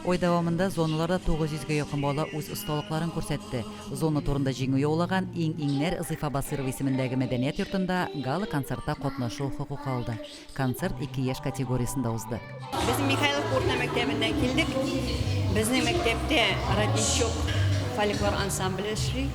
Ай дәвамында зоналарда 900 гә якын бала үз осталыкларын күрсәтте. Зона турында җиңү яулаган иң-иңнәр Зифа Басыйрова исемендәге мәдәният йортында гала-концертта катнашу хокукы алды. Концерт ике яшь категориясендә узды. Без Михайловка урта мәктәбеннән килдек. Безнең мәктәптә Родничок фольклор ансамбле эшли.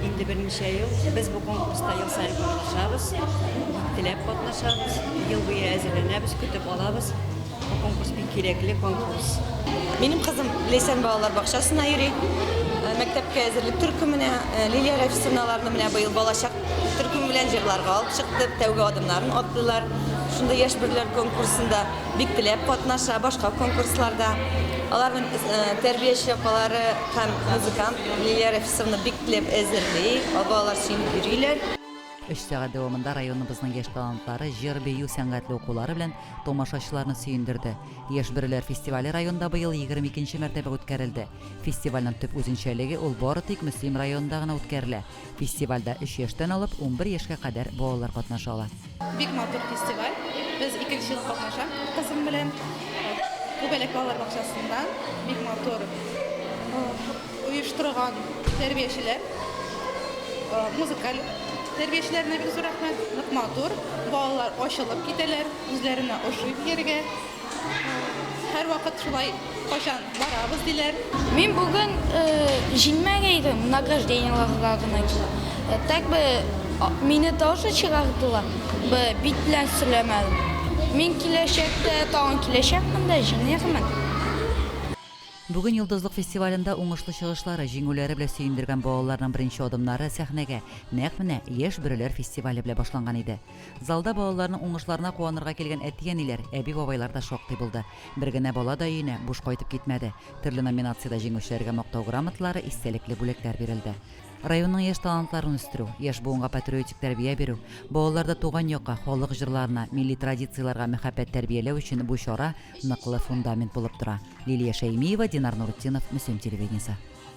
Инде берничә ел без бу конкурста ел саен катнашабыз, теләп катнашабыз, ел буе әзерләнәбез, көтеп алабыз. Бу конкурс бик кирәкле конкурс. Минем кызым Ләйсән балалар бакчасына йөри. Э, мәктәпкә әзерлек төркеменә э, Лилия Рәфисовна аларны менә быел балачак төркеме белән җырларга алып чыкты. Тәүге адымнарын атлыйлар. Шундый яшь бирләр конкурсында бик теләп катнаша, башка конкурсларда. Аларның э, тәрбияче апалары һәм музыкант Лилия Рәфисовна бик теләп әзерли, балалар сөенеп йөриләр. Өч сәгать дәвамында районыбызның яшь талантлары җыр-бию сәнгатьле укулары белән тамашачыларны сөендерде. Яшьбөреләр фестивале районда быел егерме икенче мәртәбә үткәрелде. Фестивальнең төп үзенчәлеге, ул бары тик Мөслим районында гына үткәрелә. Фестивальдә өч яшьтән алып унбер яшькә кадәр балалар катнаша ала. Бик матур фестиваль. Без икенче ел катнашам кызым белән. Үбәләк балалар бакчасында. Бик матур. оештырган тәрбиячеләр, музыкаль тәрбиячеләренә бик зур рәхмәт. Нык матур, балалар ачылып китәләр, үзләренә ошый биергә. Һәрвакыт шулай кайчан барабыз диләр. Мин бүген җиңмәгәйдем, награждениеларга гына килдем. Так бы мине тоже чыгардылар бы, бит белән сөйләмәдем. Мин киләчәктә тагын киләчәкмен дә, җиңермен. Бүген Йолдызлык фестивалендә уңышлы чыгышлары, җиңүләре белән сөендергән балаларның беренче адымнары сәхнәгә нәкъ менә Яшь бөреләр фестивале белән башланган иде. Залда балаларның уңышларына куанырга килгән әти-әниләр, әби-бабайлар да шактый булды. Бер генә бала да өенә буш кайтып китмәде. Төрле номинациядә җиңүчеләргә мактау грамоталары, истәлекле бүләкләр бирелде. Районның яшь талантларын үстерү, яшь буынга патриотик тәрбия бирү, балаларда туган якка, халык җырларына, милли традицияләргә мәхәббәт тәрбияләү өчен бу чара ныклы фундамент булып тора. Лилия Шәймиева, Динар Нурытдинов, Мөслим телевидениесе.